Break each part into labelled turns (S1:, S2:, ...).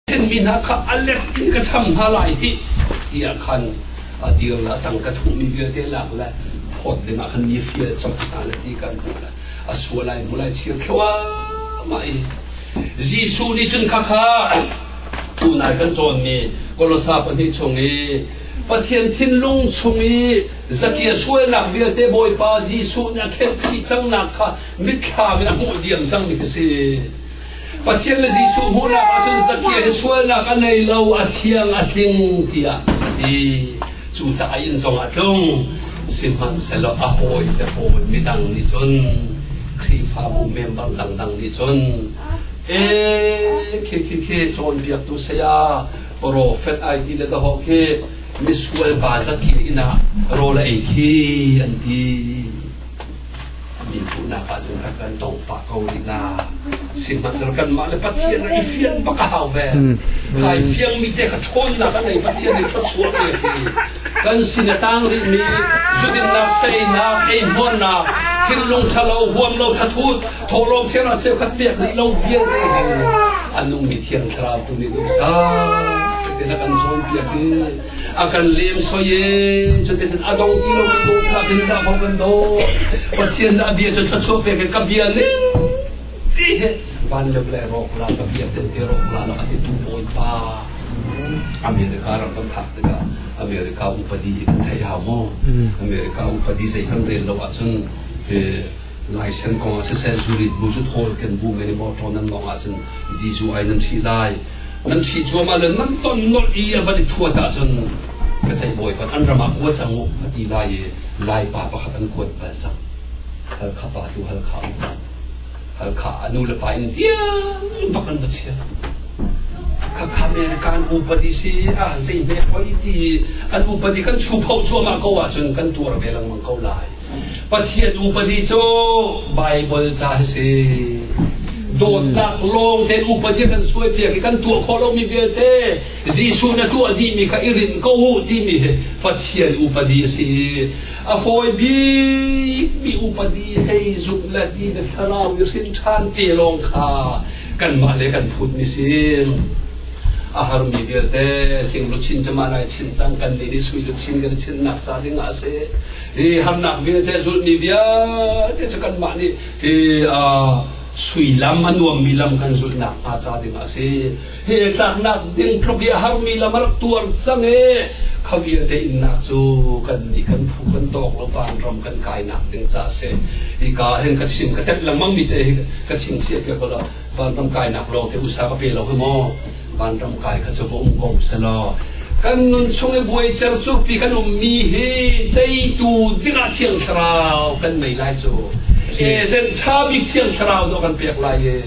S1: Thenmi hna kha a lem in ka cham hna lai hih tiah khan a dir la tang ka thuhmi vialte lak le phawt ding ah khan mi fial cawk hna le ti kan hmuh le a sual lai mu lai chir khua mai Jesuh nih cun kha kha tunai kan cawnmi Kolosa pahnih chung i Pathian thinlung chung i zakia sualnak vialte Bawipa Jesuh nih a khelh chih cangnak kha mitthlam in a hmuh diam cangmi ka si Pathian na Jesuh hmuhnak ahcun Zakhiah i sualnak a nei lo, a thiang a tling tiah a ti. Cu caah a inn zongah tlung, sihmanhsehlaw a hawi le hawi midang nih cun Khrihfabu member dangdang nih cun e khi khi khi cawnpiaktu saya profet ai ti le dahawh khi misual pa zakhi inn ah rawl ei khi an ti. min hmuhnak ahcun a kan tawng pah ko rih na sihmanhsehlaw kanmah le pathian i fian bak a hau ve kai fiang mi te kha ṭhawnnak a nei pathian nih thluachuah te kan sin a tang rihmi zudinnak seinak eimuarnak thinlung ṭhalo huam lo thathut thawlawm siana cheu khat pek rih lo vialte hi a nungmi thiang thlarau tu nih duhsah tina kan cawn piak i a kan lem soi e cu te cun a dong ti lo kan dong thla kin da bang kan do pathian da bia cu thla chuak pe ke ka bia ne ti he van le le rok la ka bia te te rok la la ka ti tu poi pa America ram kan thak te ka America upadi kan thai ha mo America upadi sai kan rel lo a chun Laisen kong ah siseh, zurit bu cu thawl kan bu men i mawṭaw nan mawng ahcun dizu ai nan ṭhih lai. Nan ṭhih cuahmah le nan ton nolh i a van i thuat ahcun ka ceih bawipat an ram ah kua cang u a ti lai i laipa pakhat an kuat bal cang. Halkha pa tu halkha u. Halkha a nu le pa in tiang bak an va chia. Khakha America an upadi si ah zei hme poi ti an upadi kan chu pho cuahmah ko ahcun kan tuar ve lengmang ko lai. Pathian upadi cu Baibal ca hi si. Dawtnak lawng tein upadi a kan suaipiak i kan tuah khawh lomi vialte Jesuh na tuah dihmi kha i rin ko u timi hi Pathian upadi a si. A fawi bikmi upadi hei zumh le ti le thlarau i hrin ṭhan te lawng kha kanmah le kan phutmi si. A harmi vialte tling luchin cama nai chin cang kan nih nih sui luchin kan i chinnak ca dingah a si. hi harnak vialte zulhmi vialte cu kanmah nih hi suilam a nuammi lam kan zulhnak hnga ca ding a si hi tlaknak ding tluk i a harmi lam a rak tuar cang e kha vialte innak cu kan nih kan phu kan dawk lo pan ram kan kainak ding ca a si hi ka hen ka chim ka tet langmang mi te hi ka chim chia ke ko la vanram kainak lawng te usa ka pe lo maw vanram kai kha cu va um ko selaw kan nun chung i buai cer curpi kan um mi hi teitu dingah thiang thlarau kan nei lai cu e sen tha bik thiang thlarau do kan pek lai ye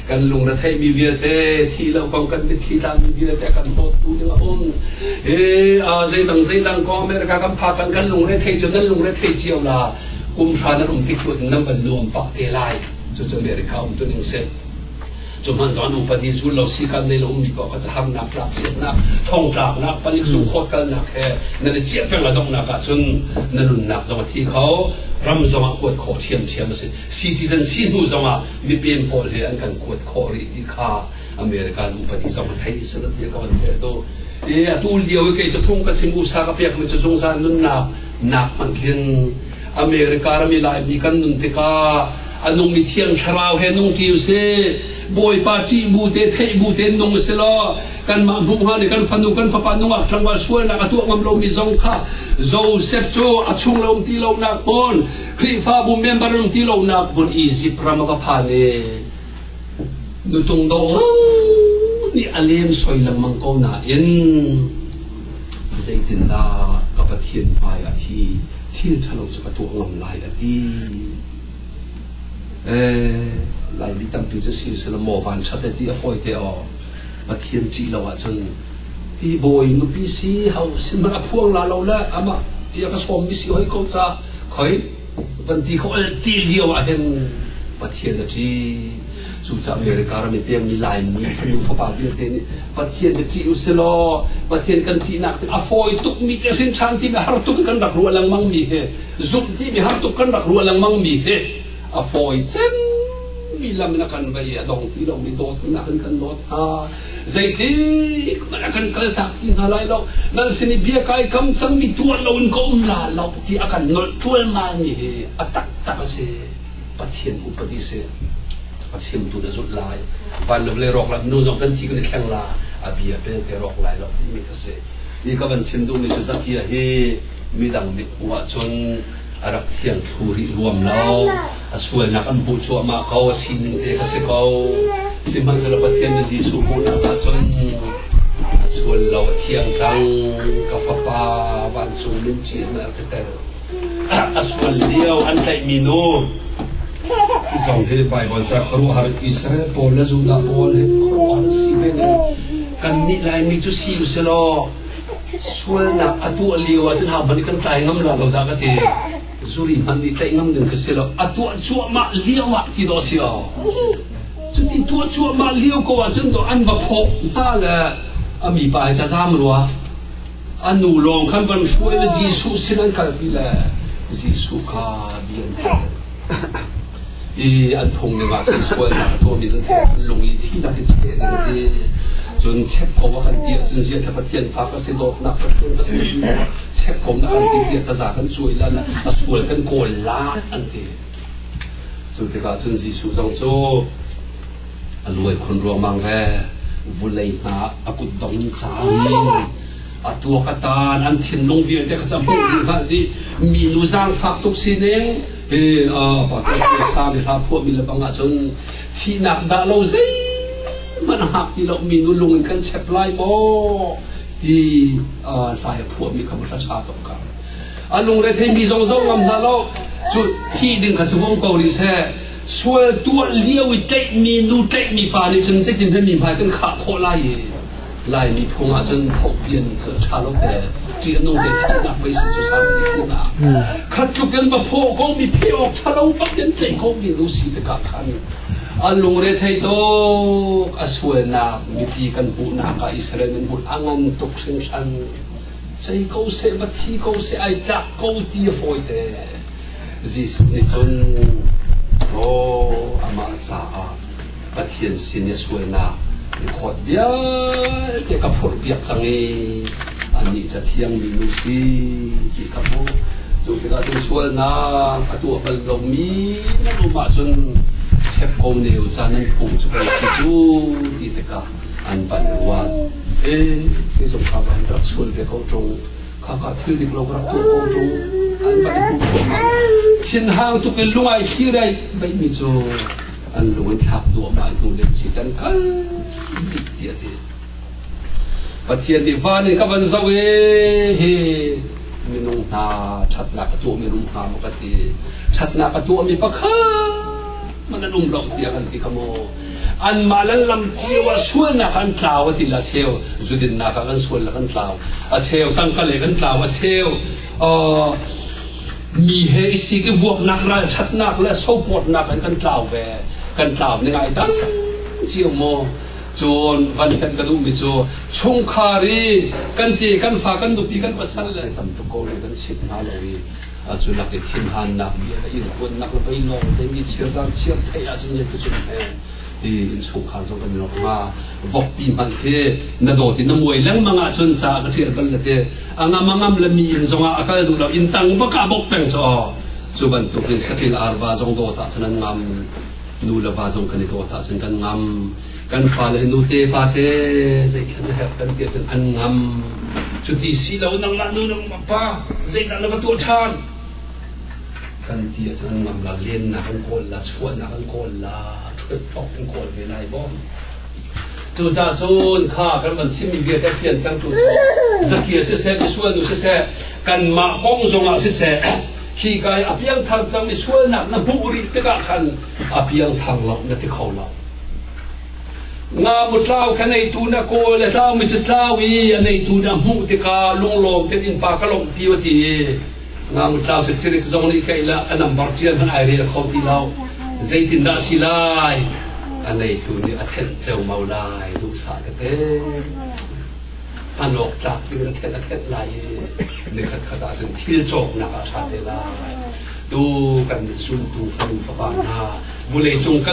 S1: kan lung na thei mi vialte thi lo kong kan mit thi ta mi vialte kan hot tu ding a un e a zei dang zei dang ko america kan pha kan kan lung re thei cu nan lung re thei chiau la kum hra na rum tik tu nam ban nuam pa te lai cucu America um tu ning si. Cu hman zon upat i zul lo si kan nei lo mi pa ka harnak tlak chiatnak thong tlaknak panik zu khawt kalnak he nan i ciah peng a donghnak ah cun na nunnak zong a thi kho ram zong ah kuat khawh thiam thiam a si citizen si hnu zong ah mipen pawl he an kan kuat khawh rih ti kha America an upati zong a thei si ti ka van he do e atu lio i kei cu thung ka sing usa ka pek mi cu zungzal nunnak nak hmang khin America rami Laimi kan nun tikah a nungmi thiang thlarau he nung ṭi u sih. Bawipa ṭih bu te, theih bu te nung u si law kanmah hmuh hnga nih kan fanu kan fapa nungak ṭangva sualnak a tuah ngam lomi zong kha Joseph cu a chung lo um ti lonak hmun Khrihfabu member um ti lonak hmun Egypt ram a va phan i nutung do nih a lem soi lengmang ko nain Zeitindah ka Pathian hmaiah hi thil ṭhalo cu ka tuah ngam lai a ti. Eh, Laimi tampi cu si sila maw vanṭhat ti a fawi te aw. Pathian ṭih lo ahcun hi bawi nupi si hau sin man a phuang la lo le amah ia ka sawm mi si hoi ko ca khoi kan ti khawh ti lio ah hin Pathian a si cucaah America ram i pengmi Laimi fanu fapa vialte nih Pathian na ṭih u si law Pathian kan ṭihnak a fawi tukmi le hrinṭhan timi har tuk in kan rak ruah lengmangmi he zumh timi har tuk kan rak ruah lengmangmi he a fawi cemmi lam in a kan va i a dong ti lomi dawtnak in kan dawt hna Zeitik nan a kan kal tak ti hna lai lo. Nan sin i bia kai kam cangmi tuah lo in ka um la lo ti a kan nolh ṭualmalmi hi a taktak a si. Pathian upadi si. A chimtu na zulh lai. Van le vale rawk la nu zong kan thi kan i thleng la. A bia pe pe rawk lai lo timi ka si. Ni ka van chim duhmi cu Zakia hi midang mit hmuh ahcun a rak thiang thlu rih ruam lo. a sualnak an hmuh cuahmah ko a sining te kha si ko sihmanhsehlaw Pathian nih Jesuh hmuhnak ahcun a sual lo a thiang cang ka fapa vancung lungci hna a ka tel a sual lio an tlaihmi nu zong hi Baibal ca khuaruahhar Israel pawl le Judah pawl he khuaruahhar si ve ne kan nih laimi cu si u selaw sualnak a tuah lio ahcun ha hmanh kan tlai ngam la lo da ka ti zuri hmanh nih tlaih ngam ding ka si lo a tuah cuahmah lio ah ti dawh si o cuti tuah cuahmah lio ko ahcun to an va phaw hna le a mi pa ca zam rua a nu lawng khan van hruai le Jesuh sin an kalpi le Jesuh kha bian i an phung dingah cun sualnak a tuahmi kan pek lung i thihnak hi cheh ding a ti cun check ko a kan ti ahcun ziaza pathian fa ka si dawtnak pathian ka si checkkomnak kan ti tiah taza kan cuai lan a sual kan kawl la an ti cu tikah cun Jesuh zong cu a luai khon ruamang ve vulei hna a kut dong cang in a tua ka tan an thinlung vialte ka cham hmuh ding hal dih mi nu zang fak tuk si ne He a pastor phaisa mi hla phuah mi lebang ahcun thihnak dah lo zeihmanh a hngak ti lo mi nu lung in kan chep lai maw ti hla ya phuah mi kha va hla tuk ka a lungre thei mi zong zong ngam hna lo cu thi ding kha cu hong ko ri se sual tuah lio i tlaih mi nu tlaih mi pa nih cun zeitin he mi hmai kan khah khawh lai i Laimi phung ahcun hopian cu tha lo te ṭianung he thihnak veisi cu sammi phunah khat tluk in va phaw ko mi pheh awk tha lo bak in tei ko mi nu si tikah khan a lungre thei tok a sualnak mipi kan hmuhnak ah Israel nan hmuh a ngan tuk hringhran sei ko se va thi ko se ai tlak ko ti a fawite Jesuh nih cun oh amah caah Pathian sin i a sualnak record vialte ka phurhpiak cang i annih cathiang mi nu si ti ka hmuh. Cu tikah cun sualnak a tuah bal lomi nan um ahcun chep ko neu caan nan phung cu kai si cu ti tikah an van ruat. E, ke zong kha van rak sual ve ko ṭung. Kha ka thil dik lo rak tuah ko ṭung. An van i hmuh thluahmah. Thinhang tuk in lungai thirei beihmi cu an lung an thlak duahmah hnu le si kan kal dik tiah ti Pathian nih van in ka van zoh e he minung hna ṭhatnak ka tuahmi rum hna maw ka ti ṭhatnak ka tuahmi pakhat man an um lo tiah kan ti kha maw an mah lan lam cio a sualnak an tlau a ti la cheu zudinnak ah kan sual la kan tlau a cheu tangka le kan tlau a cheu Mi he si i vuaknak, ralṭhatnak le sopawtnak in kan tlau ve. Kan tlau ni ngai dang cio maw? Cun van hen ka duhmi cu chungkhar i kan ti, kan fa, kan nupi, kan pasal le tam tuk ko le kan sit hna lo i cu lak i thinhannak bia le irkuannak le vei lawng te mi chirzan chiar thei ahcun yet ka cun he ti in chungkhar zong kan rawk nga vokpi hman khi na dawt in na muai lengmang ahcun ca ka ṭial bal le te a ngamangam le mi inn zongah a kal duh lo inn tang bak a bok peng caw cu bantuk in sathil arva zong dawt ah cun an ngam nu le va zong kan i dawt ah cun kan ngam kan fa le nu te pa te zeitlanh a herh kan ti cun an ngam cuti si lo nang la nu nang pa zeidah na va tuah ṭhan kan ti cun an ngam la lennak an kawl la chuahnak an kawl la ṭhuet thok an kawl ve lai bom Cucaah cun kha kan van chimmi vialte fiantertu cu zaki siseh, misual nu siseh, kanmah kong zongah siseh, khi ka i a piangthar cang mi sualnak na hmuh rih tikah khan a piangthar lo na ti kho lo. Nga mutlau kha neitu na kawl le tlau mi cu tlau i a neitu na hmuh tikah lunglawm tein pa ka lawmh ti u ti Ngangtlau sicirik zong nih keilah an ambar cian an ai rel kho ti lo. Zeitindah si lai? A neitu nih a thenh ceu mau lai duhsah ka te. An awk tlak ding a thenh a thenh lai i nikhat khat ah cun thil cawknak a ṭha te lai. Tu kan zultu fanu fapa hna vulei cung kan